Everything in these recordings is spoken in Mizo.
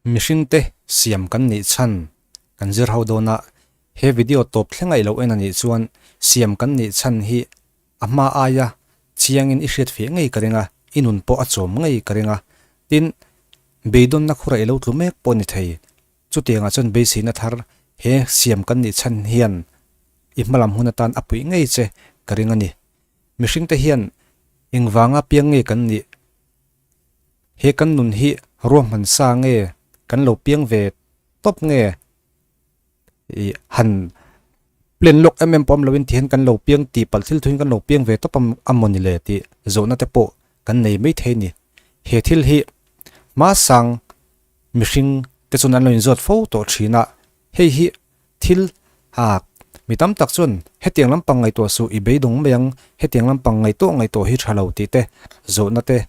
Mihring te siam kan nih chhan kan zir ho dawn a, he video tawp thlengaih lo en a nih chuan siam kan nih chhan hi a hma ai a, chiangin i hriat feh ngei ka ring a, i nun pawh a chawm ngei ka ring a, tin beidawnna khurah i lo tlu mek pawh a ni thei, chutiangah chuan beiseina thar he siam kan nih chhan hian i hma lam hun atan a puih ngei che ka ring a ni. Mihring te hian engvanga piang nge kan nih? He kan nun hi ruahman sa nge kan lo piang ve tawp nge ih han plan lawk em em pawh awm lovin tihian kan lo piang tih palh thil thuin kan lo piang ve tawp ang a maw ni le tih zawhna te pawh kan nei maithei ni. He thil hi hma sang mihring te chuan an lo in zawt fo tawh thin a, hei hi. Thil, Hak, mi tam tak chuan hetiang lampang ngaihtuah suh i beidawng mai ang, hetiang lampang ngaih tawh ngaih tawh hi tha lo tih te zawhna te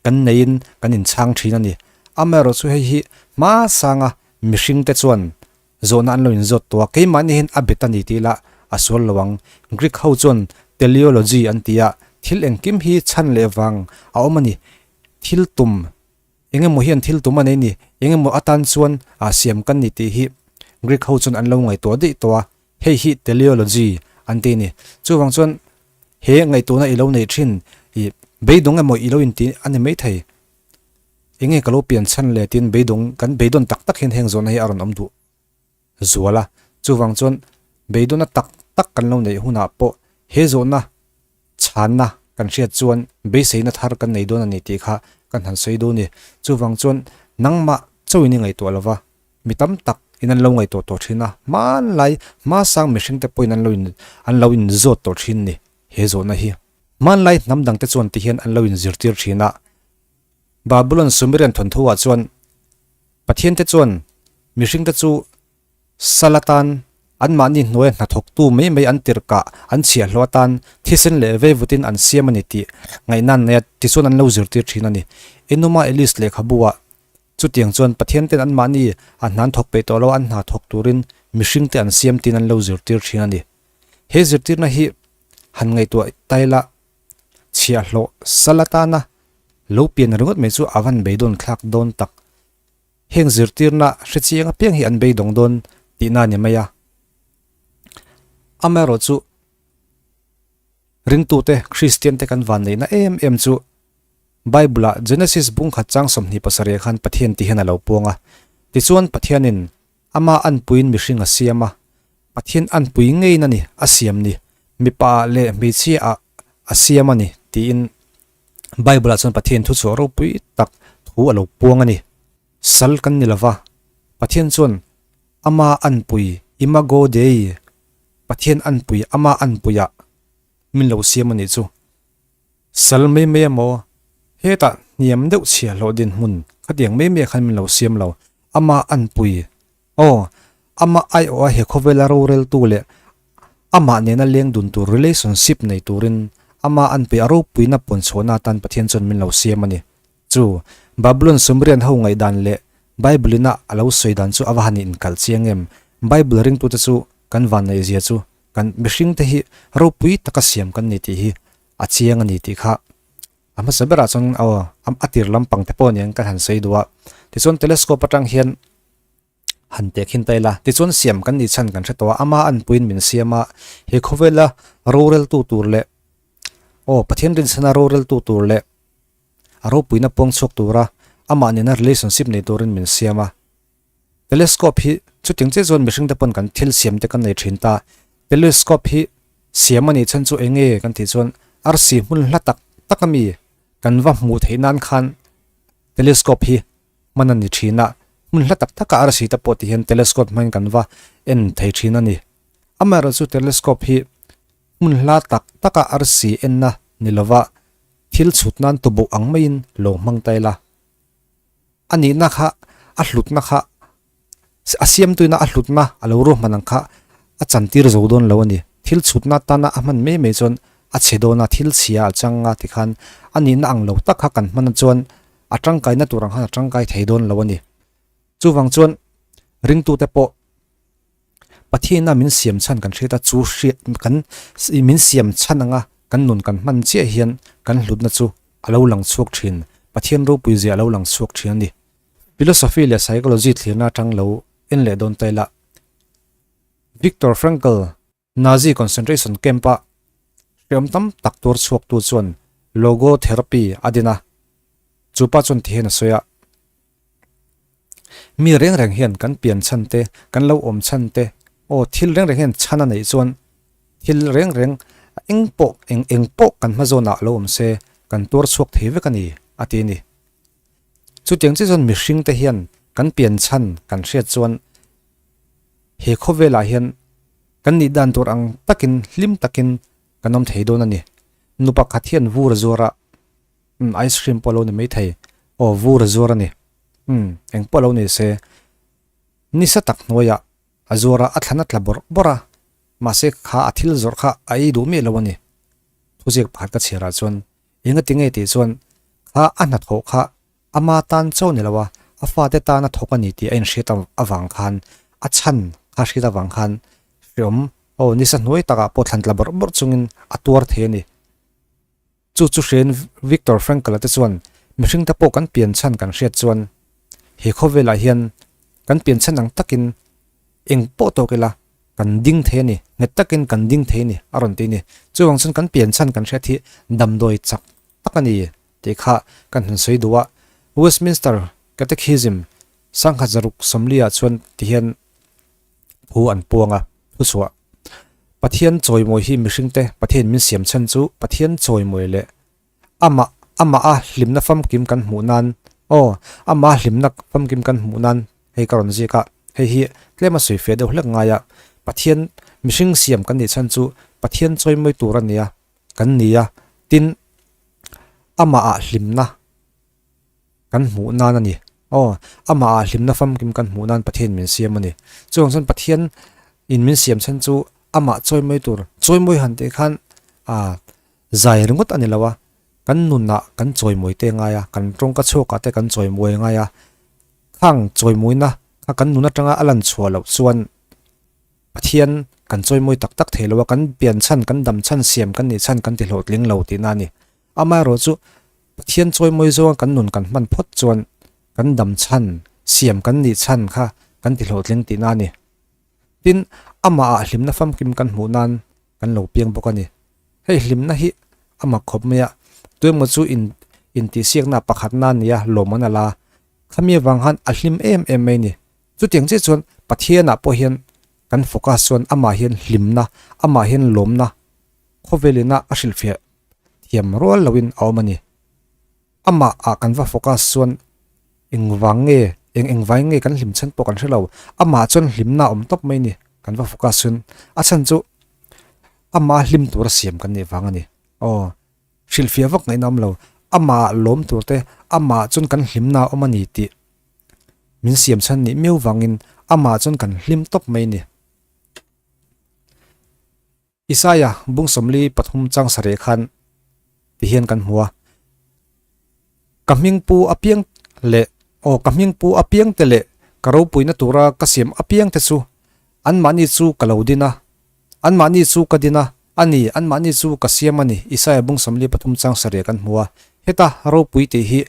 kan neiin kan inchhang thin a ni. Amaherawhchu hei hi hmasanga mihringte chuan zawhna an lo inzawt tawh a, keimahni hian a bet a ni tih ila a sual lo ang. Greek ho chuan teleology an ti a, thil engkim hi chhan leh vang a awm a ni, thil tum. Eng emaw hian thil tum a nei ni, eng emaw atan chuan a siam kan ni tih hi Greek ho chuan an lo ngaihtuah daih tawh a, hei hi teleology an ti a ni. Chuvang chuan he ngaihtuahna i lo nei thin i beidawng emaw i lo inti a ni maithei, enge ka lo pian chhan le tiin beidawng kan beidawn tak tak hian heng zawhna hi a rawn awm duh. zual a, chuvang chuan beidawhna tak tak kan lo neih hunah pawh he zawhna chhanna kan hriat chuan beiseina thar kan nei dawn a ni tih kha ka han sawi dawn a ni. Chuvang chuan nangmah chauhin i ngaihtuah lo va, mi tam tak in an lo ngaihtuah tawh thin a, hmanlai hmâsang mihring te pawhin an lo in an lo in zawt tawh thin a ni he zawhna hi. Hmanlai hnam dang te chuan ti hian an lo in zirtir thin a, Babylon Sumerian thawnthoah chuan, Pathian te chuan mihring te chu Sala tan anmahni hnuaia hnathawktu mai mai an tirh kah an chhiah hlawh atan thisen leh veivutin an siam a ni tih ngaihnan neia tichuan an lo zirtir thin a ni. Enuma Eliz lehkhabuah chutiang chuan Pathianten anmahni a hnan thawk peih tawh lo an hnathawk turin mihringte an siam tiin an lo zirtir thin a ni. He zirtirna hi han ngaihtuah ta ila. chhia hlawh sal atana lo pian ringawt mai chu avan beidawn thlak dawn tak heng zirtirna hrechi eng apiang hi an beidawng dawn tihna ani mai a amaerawh chu ringtute kristian te kan van neihna em em chu bible ah genesis bungkhat chang sawmhnih pasarih ah khan pathian tih hian alo puang a tichuan pathianin. Ama anpuin mihring a siam a, Pathian anpui ngeiin a ni a siam ni, mipa leh hmeichhia ah a siam a ni tiin Bible-ah chuan Pathianin thu chawh ropui tak thu a lo puang a ni. Sal kan ni lo va, Pathian chuan Ama anpui, Imago Dei, Pathian anpui, Ama anpuiah min lo siam a nih chu. Sal mai mai a maw? Hetah hniam deuh chhia hlawh dinhmun khatiang mai mai khan min lo siam lo. Ama an pui. Aw, ama aiawha he khawvela roreltu leh amah nena leng dun tur, relationship, nei turin ama an pui a ropuina pawn chhuahna atan Pathian chuan min lo siam a ni. Chu Babylon sumrian ho ngaihdan leh Bible ina a lo sawi dan chu a va han inkal chiang em? Bible ringtute chu kan vanneihzia chu kan mihring te hi ropui taka siam kan ni tih hi a chiang a ni tih kha a hmasa berah chuan aw a tir lampang te pawh nen ka han sawi duh a tichuan telescope atang hian han pek hin ta ila tichuan siam kan nih chhan kan hre tawh a ama an puiin min siam a he khawvela rorel tu tur leh aw pathian rinchhana rorel tu tur leh a ropuina puang chhuak tura amah nena relationship nei turin min siam a. Telescope hi chuting chiah chuan mihring te pawn kan thil siam te kan nei thin ta. Telescope hi siam anih chhan chu enge kan tih chuan arsi hmun hla tak tak ami kan va hmuh theih nan khan telescope hi hman ani thin a hmun hla tak tak a arsi te pawh tih hian telescope hman kan va en thei thin ani amaherawh chu telescope hi hmun hla tak tak a arsi enna ni lova thil chhut nan tubuh ang maiin lo hmang ta ila. A nihna kha a hlutna kha a siamtuina a hlutna a lo ru hman ang kha a chantir zo dawn lo a ni. Thil chhutna atana a hman mai mai chuan a chhe dawn a, thil chhia a chang a ti khan a nihna ang lo tak kha kan hmana chuan a tangkaina tur ang khan a tangkai thei dawn lo a ni. Chuvang chuan ringtute pawh Pathiana min siam chhan kan hriat a, chu hriat kan min siam chhan anga kan nun kan hman chiah hian kan hlutna chu a lo lang chhuak thin, Pathian ropui zia a lo lang chhuak thin a ni. Philosophy leh Psychology thlirna atang lo en leh dawn ta ila, Viktor Frankl, Nazi concentration camp a hreawm tam tak tur chhuaktu chuan logotherapy a din a, chupa chuan tihian a sawi a, Mi reng reng hian kan pian chhan te, kan lo awm chhan te, aw thil reng reng hian chhan a neih chuan thil reng reng eng pawh eng eng pawh kan hma zawnah a lo awm se kan tuar chhuak thei vek a ni, a ti a ni. Chutiang chiah chuan mihring te hian kan pian chhan kan hriat chuan he khaw velah hian kan nih dan tur ang takin hlim takin kan awm thei dawn a ni. Nu pakhat hian vur zuar a. Umm ice cream pawh lo ni mai thei. Aw vur a zuar a ni. Umm eng pawh lo ni se. Ni sa tak hnuaiah a zuar a, a thlan a tla bawrh bawrh a. Mahse ka kha a thil zawrh kha a ei duh miah lo a ni. Thuziak pakhat ka chhiar ah chuan enga ti nge tih chuan kha a hnathawh kha ama tan chauh ni lo a, a fate tan a thawk a ni tih a inhriat avang khan a chhan kha a hriat avang khan hre awm. Aw ni sa hnuai takah pawh thlan tla bawrh bawrh chungin a tuar thei a ni. Chu chu hriain Viktor Frankl-a te chuan, Mihring te pawh kan pian chhan kan hriat chuan, he khawvelah hian kan pian chhan ang takin eng pawh tawk ila kan ding thei a ni, nghet takin kan ding thei a ni a rawn ti a ni. Chuvang chuan kan pian chhan kan hriat hi damdawi chak tak a ni tih kha ka han sawi duh a, Westminster Catechism sangha zaruk sawmli-ah chuan ti hian, Phu an puang a, thusuah. Pathian chawimawi hi mihringte Pathianin min siam chhan chu Pathian chawimawi leh Amah, Amah a hlimna famkim kan hmuh nan, aw, Amah a hlimna famkim kan hmuh nan hei ka rawn ziak a, hei hi tlem a sawi fe deuh hlek ngai a, Pathian, mihring siam kan nih chhan chu Pathian chawimawi tur a nia, kan nia, tin, Amah a hlimna. kan hmuh nan a ni. Aw, amaha hlimna fam kim kan hmuh nan Pathian min siam a ni. Chuvang chuan Pathian in min siam chhan chu amah chawimawi tur, chawimawi han tih khan ah zai ringawt a ni lo a, kan nunah kan chawimawi teh ngai a, kan tawngka chhuak ah te kan chawimawi ngai a, khang chawimawina kha kan nun atanga a lan chhuah loh chuan Pathian kan chawimawi tak tak thei lo a, kan pian chhan, kan dam chhan, siam kan nih chhan kan ti hlawhtling lo tihna a ni. Amaherawh chu, Pathian chawimawi zawnga kan nun kan hman phawt chuan kan dam chhan, siam kan nih chhan kha kan ti hlawhtling tihna a ni. Tin, Amahah hlimna famkim kan hmuh nan kan lo piang bawk a ni. Hei hlimna hi a mak khawp mai a, tuemaw chu in intihsiaknaah pakhat nan nia lawm an la la. Khamia vang han a hlim em em mai a ni. Chutiang chiah chuan Pathianah pawh hian kan focus chuan amah hian hlimna, amah hian lawmna khawvelin a a hrilhfiah thiam rual lo in a awm a ni. Amah ah kan va focus chuan eng vang nge eng eng vai nge kan hlim chhan pawh kan hre lo. Amah chuan hlim na awm tawp mai a ni kan va focus chuan a chhan chu amah hlim tur a siam kan nih vang a ni. Aw hrilhfiah vak ngaih na awm lo amah lawm tur te amah chuan kan hlim na awm a ni tih min siam chhan nih miau vang in amah chuan kan hlim tawp mai a ni. Isaiah bung sawmli pathum chang sa reh khan ti hian kan hmu a, Ka hming pu apiang leh aw ka hming pu apiang te leh ka ropuina tura ka siam apiang te chu anmahni chu ka lo din a, anmahni chu ka din a, a ni, anmahni chu ka siam a ni, Isaiah bung sawmli pathum chang sa reh kan hmu a, heta ropui tih hi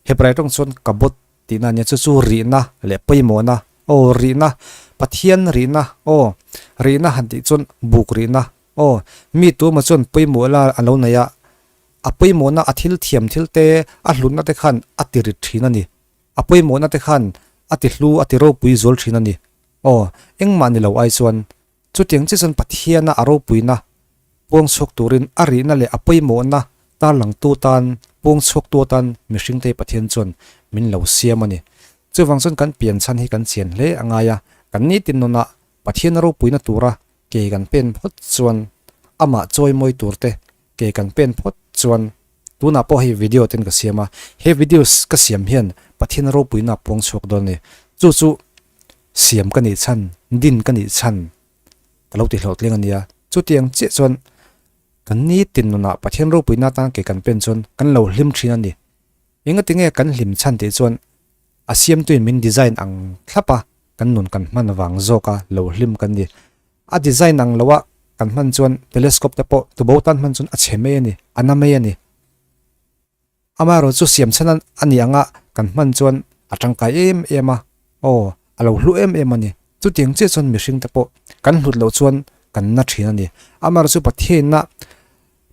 Hebrai tawng chuan Kabod Tihna nia chu chu rihna leh pawimawhna aw rihna Pathian rihna aw rihna han tih chuan buk rihna aw mi tuma chuan pawimawh la an lo nei a, a pawimawhna a thil thiam thil te a hlutna te khan a ti rit thin a ni, a pawimawhna te khan a ti hlu a ti ropui zual thin a ni aw engmah ni lo ai chuan Chutiang chiah chuan Pathiana a ropuina puangchhuak turin a rihna leh a pawimawhna tarlangtu tan puangchhuaktu atan mihringtei Pathian chuan min lo siam a ni. Chuvang chuan kan pianchhan hi kan chian hle a ngai a, kan nitin nunah Pathiana ropuina tura ke kan pen phawt chuan Amah chawimawi turte Ke kan pen phawt chuan tunah pawh hei video ten ka siam a, he videos ka siam hian Pathiana ropuina puang chhuak dawn a ni. Chu chu siam ka nih chhan, din ka nih chhan ka lo ti hlawhtling a nia. Chutiang chiah chuan kan nitin nunah Pathian ropuina atan ke kan pen chuan kan lo hlim thin a ni. Engati nge kan hlim chhan tih chuan a siamtuin min design ang thlap a, kan nun kan hman vang zawka lo hlim kan ni. A design ang loa kan hman chuan telescope te pawh tubo tan hman chuan a chhe mai a ni, a na mai a ni. Amaherawh chu siam chhan a a ni anga kan hman chuan a tangkai em em a, aw a lo hlu em em a ni. Chutiang chiah chuan mihring te pawh kan hlut loh chuan kan na thin a ni. Amaherawhchu Pathianna.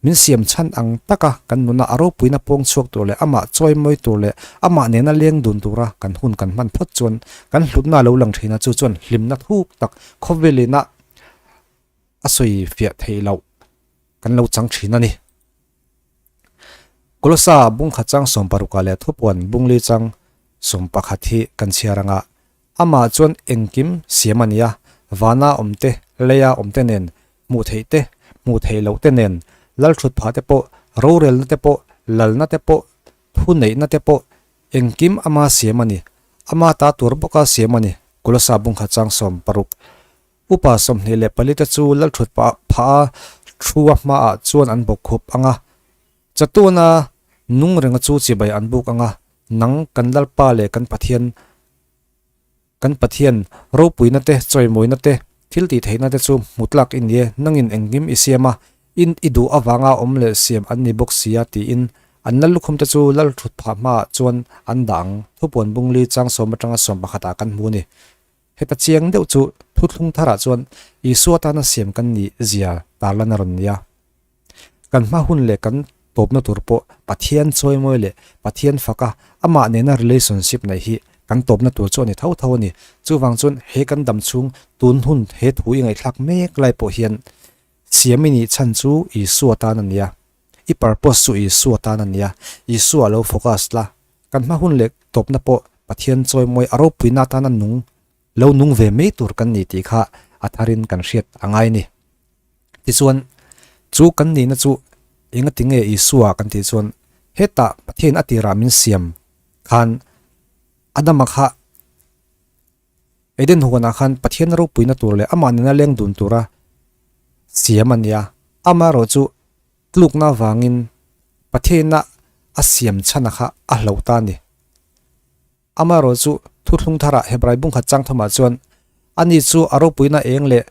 Min siam chhan ang taka kan nuna a ropuina pawng chhuak tur leh amah chawimawi tur leh amah nena leng dun tura kan hun kan hman phawt chuan kan hlutna lo lang thin a, chu chuan hlimna thuk tak khawvelina a sawi fiah theih loh kan lo chang thin a ni. Kolosa bungkhatsang sawmparuka leh thupuan bunglichang sawmpakhat hi kan chhiar anga Amah chuan engkim siam a nia, vana awmte, leia awmte nen hmuh theih te, hmuh theih loh te nen lal thut phah te pawh, rorelna te pawh, lalna te pawh, thu neihna te pawh engkim ama siam a ni. Ama ta tur bawka siam a ni, Kulasa Bungkha Changsawm paruk. Upa sawmhnih leh pali te chu lal thut pah phaha thua hmaah chuan an bawk khup ang a. Chatuna nung renga chu chibai an buk anga nang kan Lalpa leh kan Pathian kan Pathian ropuina te chawimawina te thil tih theihna te chu hmu tlak i nie nangin engkim i siam a in i duh avanga awm leh siam an ni bawk sia tiin an lal lukhum te chu lal thut phah hma ah chuan an dah ang Thupuan Bungli Changsawm atanga sawm pakhat ah kan hmu a ni heta chiang deuh chu thuthlung thar ah chuan Isua tana siam kan nih zia tarlana rawn nia. Kan hma hun leh kan tawpna tur pawh Pathian chawimawi leh Pathian faka amah nena relationship neih hi kan tawpna tur chu a ni tho tho a ni. Chuvang chuan he kan dam chhung tun hun he thu i ngaihthlak mek lai pawh hian siam i nih chhan chu Isua tan a nia. I purpose chu Isua tan a nia. Isua lo focus la. Kan hma hun leh tawpna pawh Pathian chawimawi a ropuina atana nung Lo nung ve mai tur kan ni tih kha a thar in kan hriat a ngai ni. Tichuan, chu kan nihna chu enga ti nge Isua kan tih chuan heta Pathian a tirah min siam khan Adama kha Eden huanah khan Pathiana ropuina tur leh amah nena leng dun tura siam a nia. Amaherawh chu tlukna avangin Pathiana a siam chhana kha a hloh ta a ni. Amaherawh chu thuthlung tharah Hebrai bungkhat chang thawmah chuan ani chu a ropuina eng leh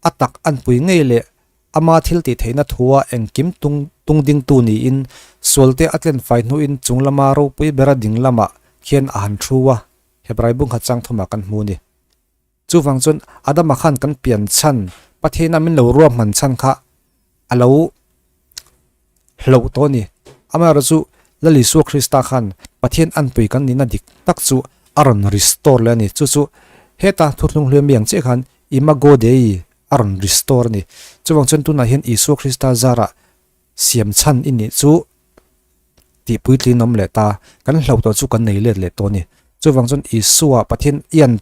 a tak an pui ngei leh ama thil tih theihna thua engkim tung tung dingtu niin sualte a tlen fai hnuin chung lama ropui bera ding lamah khian a han thu a, Hebrai bungkhat chang thawmah kan hmu a ni. Chuvang chuan Adama khan kan pian chhan, Pathiana min lo ruahman chhan kha a lo hlauh tawh a ni. Amaherawh chu Lal Isua Krista khan Pathian anpui kan nihna dik tak chu a rawn restore leh a ni. Chu chu heta thutthlung hliami ang chiah khan Imago Dei a rawn restore a ni. Chuvang chuan tunah hian Isua Krista zarah, Siam chhan i nih chu tih puitlin awm leh ta, kan hlo tawh chu kan nei let leh tawh a ni. Chuvang chuan Isua Pathian ian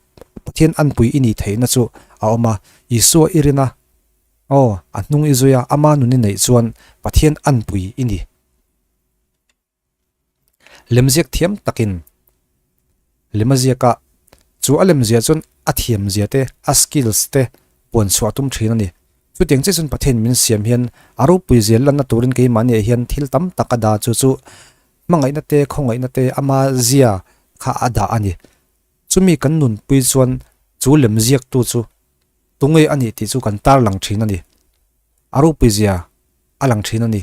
Pathian anpui i nih theihna chu a awm a, Isua i rin a, aw, a hnung i zui a, ama nun i neih chuan Pathian anpui i ni. Lemziak thiam takin lem a ziak a, chu a lem ziah chuan a thiam ziah te, a skills te puan chhuah a tum thin a ni. Chutiang chiah chuan Pathian min siam hian a ropui zel lanna turin keimahni ah hian thil tam tak a dah chu chu hmangaihna te, khawngaihna te ama zia kha a dah a ni. Chumi kan nunpui chuan chu lemziak tu chu tunge a nih tih chu kan tarlang thin a ni. A ropui zia a lang thin a ni.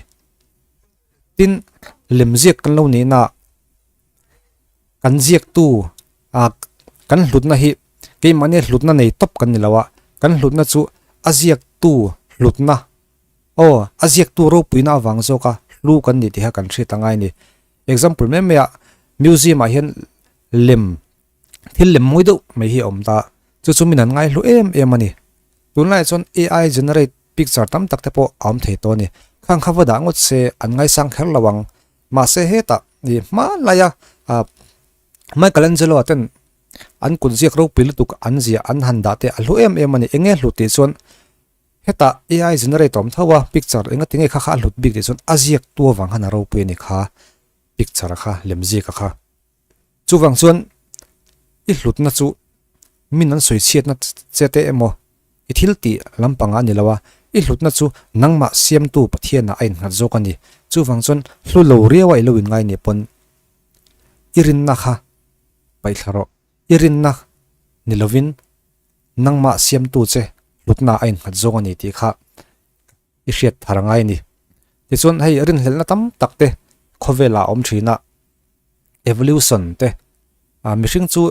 Tin, lemziak kan lo nei naah kan ziaktu a kan hlutna hi keimahni hlutna nei tawp kan ni lo a, kan hlutna chu a ziaktu hlutna aw a ziaktu ropuina avang zawka hlu kan ni tih kha kan hriat a ngai a ni. Example mai maiah museum ah hian lem. Thil lem mawi deuh mai hi a awm ta, chu chu min han ngaihlu em em a ni. Tunlaiah chuan AI generate picture tam tak te pawh a awm thei tawh a ni. Khang kha va dah ngawt se an ngaisang kher lo ang. Mahse hetah ih hmanlaia ah Michelangelo-a ten an kut ziak ropui lutuk an zia an han dah te a hlu em em a ni. Enge hlu tih chuan hetah AI generate a awm tho a, picture eng a tinge kha kha a hlut bik tih chuan a ziak tu avang han a ropui a ni kha, picture kha, lemziak a kha. Chuvang chuan i hlutna chu min an sawi chhiatna che te emaw, i thil tih lampangah a ni lo a, i hlutna chu nangmah Siamtu Pathianah a innghat zawk a ni. Chuvang chuan hlu lo riau a i lo inngai nih pawn i rinna kha paih thla rawh, i rinna ni lovin nangmah Siamtu che hlutnaah a innghat zawk a ni tih kha i hriat thar ngai a ni. Tichuan hei rinhlelhna tam tak te khawvelah a awm thin a, evolution te a mihring chu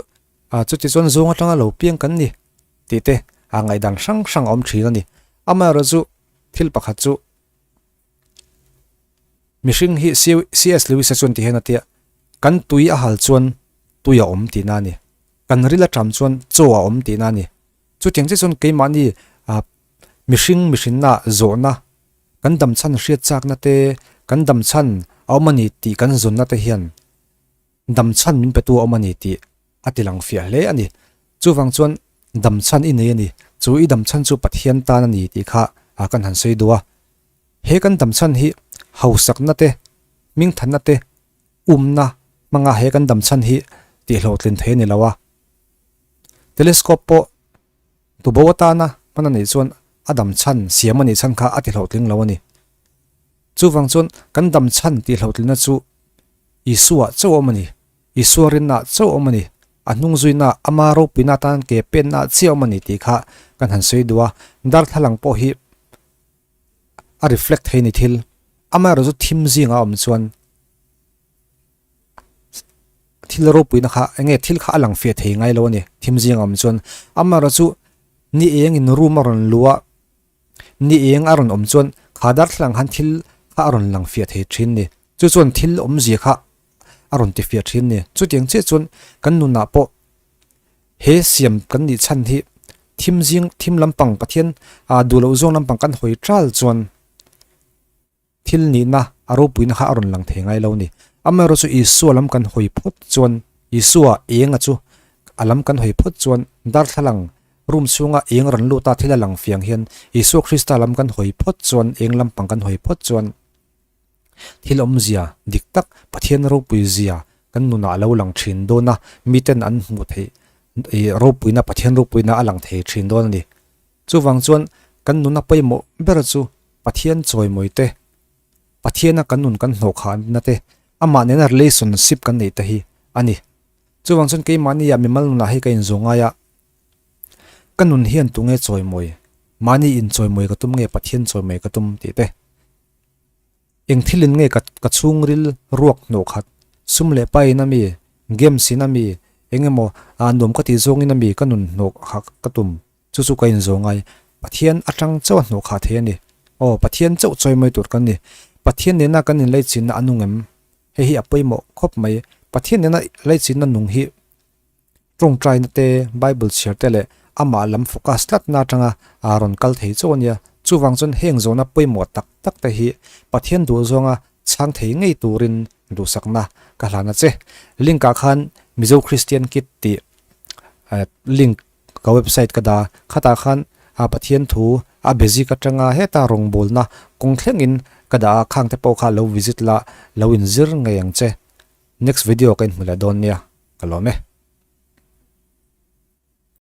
a chuti chuan zawng atanga lo piang kan ni tih te a ngaihdan hrang hrang a awm thin a ni. Amaherawhchu chu thil pakhat chu mihring hi CS Lewis-a chuan ti hian a ti a, kan tui a hal chuan tui a awm tihna a ni, kan ril a ṭam chuan chaw a awm tihna a ni. Chutiang chiah chuan keimahni mihring mihrinna zawhna, kan damchhan hriatchakna te, kan damchhan a awm a ni tih kan zawnna te hian damchhan min petu a awm a ni tih a ti lang fiah hle a ni. Chuvang chuan damchhan i nei a ni, chu i damchhan chu Pathian tan a ni tih kha kan han sawi duh a. He kan damchhan hi hausakna te, mingthanna te. Umna hmanga he kan dam chhan hi tihhlawhtlin thei a ni lo a. Telescope pawh tubo atana hman a nih chuan a dam chhan siam a nih chhan kha a tihhlawhtling lo a ni. Chuvang chuan kan dam chhan tihhlawhtlina chu Isua chauh awm a ni, Isua rinna chauh awm a ni, a hnungzuina, ama ropina atan ke penna chiah awm a ni tih kha kan han sawi duh a. Darthlalang pawh hi. a reflect thei ni thil ama erawh chu thim zingah awm chuan thil ropuina kha eng nge thil kha a lang fiah thei ngai lo a ni thim zingah awm chuan ama erawh chu ni eng in room a rawn lua ni eng a rawn awm chuan kha darthlalang khan thil kha a rawn lang fiah thei thin ni chu chuan thil awmzia kha a rawn ti fiah thin ni chutiang chiah chuan kan nunah pawh. He siam kan nih chhan hi thim zing, thim lampang Pathian aa duh loh zawng lampang kan hawi tal chuan thil nihna a ropuina kha a rawn lang thei ngai lo a ni. Amaherawhchu Isua lam kan hawi phawt chuan, Isua enga chu a lam kan hawi phawt chuan darthlalang room chhunga eng rawn luta thil a lang fiang hian Isua Krista lam kan hawi phawt chuan, eng lampang kan hawi phawt chuan, Thil awmzia dik tak Pathian ropui zia kan nunah a lo lang thin dawn a, miten an hmuh theih ropuina, Pathian ropuina a lang thei thin dawn a ni. Chuvang chuan kan nuna pawimawh ber chu Pathian chawimawite, Pathiana kan nun kan hnawh khah nate, amah nena relationship kan neihte hi a ni. Chuvang chuan keimahniah mimal nunah hei ka inzuam ngai a, ka nun hian tunge chawimawi? Mahni inchawimawi ka tum nge Pathian chawimawi ka tum? tih te. Eng thilin nge ka ka chhungril ruak hnawh khat? Sum leh pain a mi? Game sin a mi? Engemaw aa nuam ka tih zawngin a mi ka nun hnawh kha ka tum? Chu chu ka inzawh ngai. Pathian atang chauha hnawh kha thei a ni. Aw, Pathian chauh chawimawi tur kan ni. Pathian nena kan inleichhinna a nung em? Hei hi a pawimawh khawp mai. Pathian nena leichhinna nung hi Tawngtainate, Bible chhiarte leh amah lam focus tlatna atanga aa rawn kal thei chauh a nia. Chuvang chuan heng zawna pawimawh tak takte hi Pathian duh zawnga chhang thei ngei turin duhsakna ka hlan a che. Link ah khan Mizo Kristian Kit tih link ka website ka dah a, khatah khan Pathian thu a basic atanga heta rawngbawlna kawng thlengin ka dah a, khangte pawh kha lo visit la lo inzir ngei ang che. Next video ka inhmu leh dawn nia ka lawm e.